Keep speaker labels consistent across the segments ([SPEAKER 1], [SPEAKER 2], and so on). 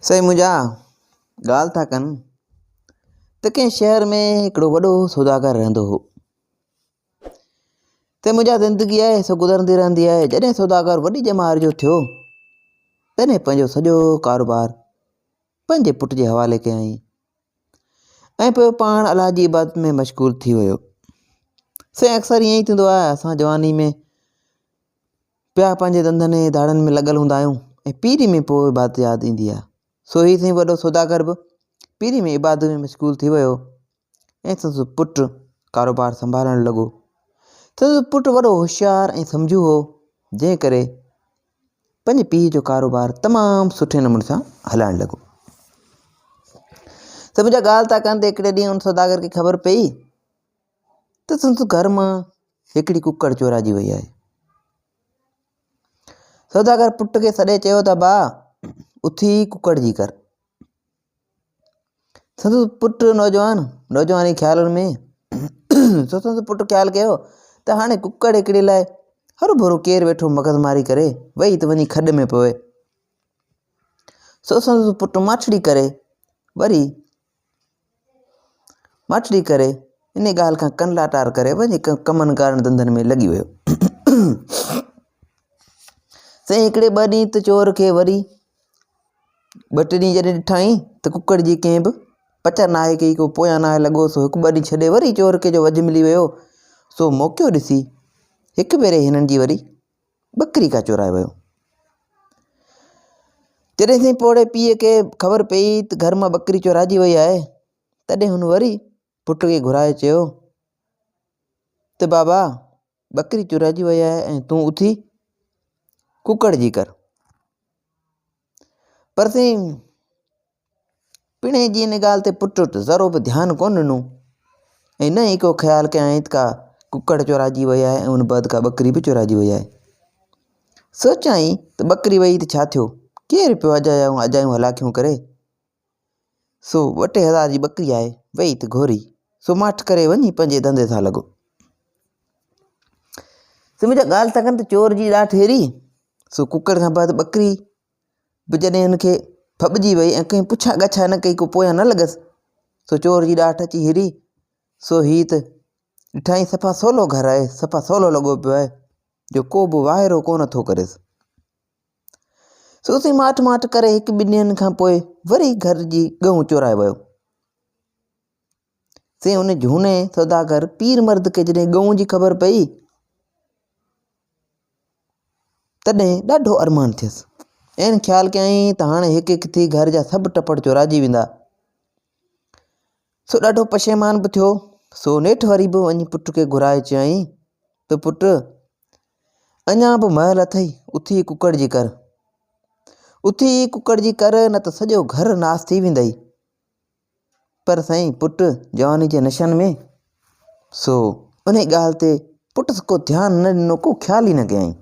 [SPEAKER 1] سائين منهنجا ڳالهه ٿا ڪن ته ڪنهن شهر ۾ هڪڙو وڏو سوداگر رهندو هو ته منهنجا زندگي آهي سو گذرندي رهندي آهي جڏهن سوداگر وڏي ڄمار جو ٿيو تڏهن پنهنجو سڄو ڪاروبار پنهنجي پٽ جي حوالي ڪيائين ۽ پوء پاڻ الله جي عبادت ۾ مشغول ٿي ويو سائين اڪثر ائين ٿيندو آهي اسان جواني ۾ پيا پنهنجي ڌنڌن ۽ ڌاڙن ۾ لڳل هوندا آهيون ۽ پيري ۾ پوء عبادت ياد ايندي آهي. سو هي سائين وڏو سوداگر به پيري ۾ عبادت ۾ مشغول ٿي ويو ۽ سندس پٽ ڪاروبار سنڀالڻ لڳو. سندس پٽ وڏو هوشيار ۽ سمجهو هو، جنهن ڪري پنهنجي پيء جو ڪاروبار تمام سٺي نموني سان هلائڻ لڳو. سڀ جا ڳالهه ٿا ڪن ته هڪڙي ڏينهن ان سوداگر کي خبر پيئي ته سندس گهر مان هڪڙي ڪڪڙ چورائجي وئي آهي. سوداگر پٽ کي سڏي چيو ته با اٿي ڪڪڙ جي ڪر سندس پٽ نوجوان نوجواني خيالن ۾ سندس پٽ خيال ڪيو ته هاڻي ڪڪڙ هڪڙي لاء هر ڀرو ڪير ويٺو مغز ماري ڪري وئي ته وڃي کڏ ۾ پوي سو سندس پٽ ماٺڙي ڪري وري ماٺڙي ڪري انهيء ڳالهه کان ڪن لاٽار ڪري وڃي ڪمن ڪارن ڌنڌن ۾ لڳي ويو. سائين هڪڙي ٻه ڏينهن ته چور کي وري ٻه ٽي ڏينهن جڏهن ڏٺائين ته ڪڪڙ جي ڪنهن به پچر ناهي ڪئي ڪو پويان ناهي لڳو سو هڪ ٻه ڏينهن ڇڏي وري چور کي جو وجهه ملي ويو سو موقعو ڏسي هڪ ڀيري هنن جي وري ٻڪري کان چورائي ويو. جڏهن سائين پوڙهي پيء کي خبر پيئي ته گهر مان ٻڪري چورائجي وئي آهي، تڏهن هن وري پٽ کي گهرائي چيو ته بابا ٻڪري چورائجي وئي آهي ۽ تون اٿي ڪڪڙ جي ڪر. پر سائين پڻهين جي ان ڳالهه تي پٽ ذرو به ڌيان ڪونه ڏنو ۽ نه ئي ڪو خيال ڪيائين ته ڪا ڪڪڙ چورائجي وئي آهي ۽ ان بعد ڪا ٻڪري به چورائجي وئي آهي سوچيائين ته ٻڪري وئي ته ڇا ٿيو ڪير پيو اجايائون اجايون هلاکيون ڪري سو ٻه ٽي هزار جي ٻڪري آهي، ويئي ته گهوري، سو ماٺ ڪري وڃي پنهنجي ڌنڌي سان لڳو. سو منهنجا ڳالهه ٿا ڪن ته چور جي ڏاٺ هيري، سو ڪڪڙ کان بعد ٻڪري به جڏهن هن کي ڦٻجي وئي ۽ ڪنهن پڇا ڳاڇا نه ڪئي ڪو پويان نه لڳس، سو چور جي ڏاٺ اچي هيري، سو هي ته ڏٺائين صفا سولو گهر آهي، صفا سولو لڳو پيو آهي، جو ڪو به واهرو ڪونه ٿو ڪريس. سوسي ماٺ ماٺ ڪري هڪ ٻن ڏينهن کان پوء وري گهر جي ڳئون چورائي ويو. سي ان جهوني سوداگر پير مرد کي جڏهن ڳئون جي خبر پئي تڏهن ڏاڍو ارمان ٿيس. عين خيال ڪيائين ته هاڻي هڪ هڪ ٿي گهر جا سڀ ٽپڙ چورائجي ويندا. سو ڏاڍو پشيمان به ٿيو. سو نيٺ وري به وڃي پٽ کي گهرائي چيائين ته پٽ اڃا به مهل اٿئي، اٿي ڪڪڙ جي ڪر. اٿي ڪڪڙ جي ڪر نه ته سڄو گهر ناس ٿي ويندئي. پر سائين پٽ جواني جي نشن ۾، سو انهي ڳالهه تي پٽس ڪو ڌيان نه ڏنو ڪو خيال ئي نه ڪيائين.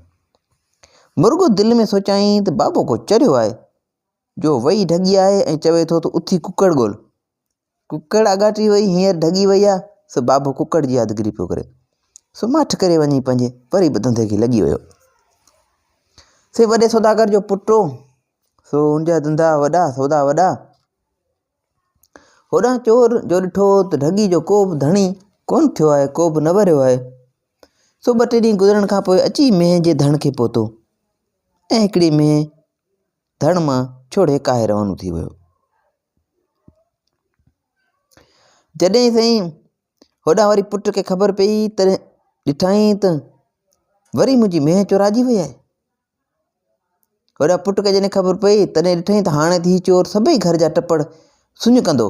[SPEAKER 1] مرڳو دل ۾ سوچيائين ته بابو ڪو چريو آهي، جو وئي ڍڳي آهي ۽ چوي ٿو ته اٿي ڪڪڙ ڳول. ڪڪڙ آڳاٽي وئي هينئر ڍڳي وئي آ، سو بابو ڪڪڙ جي يادگيري پيو ڪري. سو ماٺ ڪري وڃي پنهنجي وري به ڌنڌي کي لڳي ويو. سي وڏي سوداگر جو پٽ هو، سو ان جا ڌنڌا وڏا، سودا وڏا. هوڏانهن چور جو ڏٺو ته ڍڳي جو ڪو به ڌڻي ڪونه ٿيو آهي، ڪو به نه وريو آهي. سو ٻه ٽي ڏينهن گذرڻ کان پوء اچي مينهن جي ڌڻ کي پهتو ۽ هڪڙي مينهن ڌڻ مان ڇوڙي ڪاهي روانو ٿي ويو. جڏهن سائين هوڏانهن وري پٽ کي خبر پيئي تڏهن ڏٺائين ته وري منهنجي مينهن چوراجي وئي آهي هوڏانهن پٽ کي جڏهن خبر پيئي تڏهن ڏٺائين ته هاڻي ته هي چور سڀئي گهر جا ٽپڙ سڃ ڪندو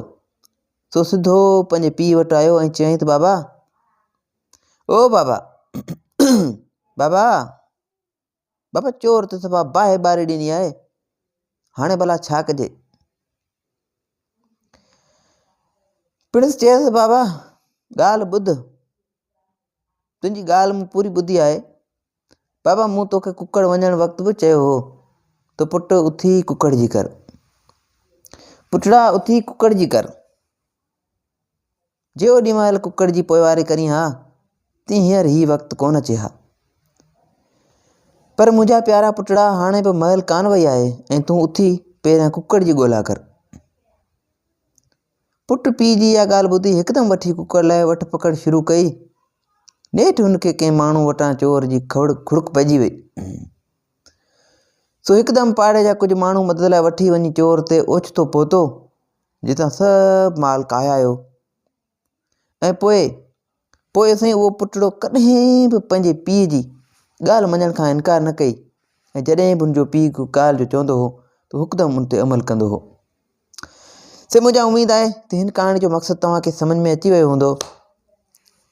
[SPEAKER 1] سو سڌو پنهنجي پيء وٽ آيو ۽ چيائين ته بابا او بابا بابا بابا چور ته صفا باهه ٻاري ڏني آهي، هاڻي ڀلا ڇا ڪجي؟ پڻس چيس بابا ڳالهه ٻڌ، تنهنجي ڳالهه مون پوري ٻڌي آهي، بابا مون توکي ڪڪڙ وڃڻ وقت به چيو هو ته پٽ اٿي ڪڪڙ جي ڪر، پٽڙا اٿي ڪڪڙ جي ڪر. جي اوڏي مهل ڪڪڙ جي پوئواري ڪرين ها تي هينئر هي وقت ڪونه اچي ها. پر منهنجا پيارا پٽڙا هاڻي به مهل ڪانه وئي آهي ۽ تون اٿي پهريان ڪڪڙ جي ڳولا ڪر. پٽ پيء جي اها ڳالهه ٻڌي هڪدم وٺي ڪڪڙ لاء وٺ پڪڙ شروع ڪئي. نيٺ هن کي ڪنهن ماڻهو وٽان چور جي کڙڪ پئجي وئي. سو هڪدم پاڙي جا ڪجهه ماڻهو مدد لاء وٺي وڃي چور تي اوچتو پهتو. جتان سڀ مال ڪاهيايو ۽ پوء پوء سائين اهو پٽڙو ڪڏهن به پنهنجي پيء جي ڳالهه مڃڻ کان انڪار نه ڪئي ۽ جڏهن به ان جو پيء ڪو ڳالهه جو چوندو هو ته هڪدم ان تي عمل ڪندو هو سي منهنجا اميد آهي ته هن ڪهاڻي جو مقصد توهان کي سمجھ ۾ اچي ويو هوندو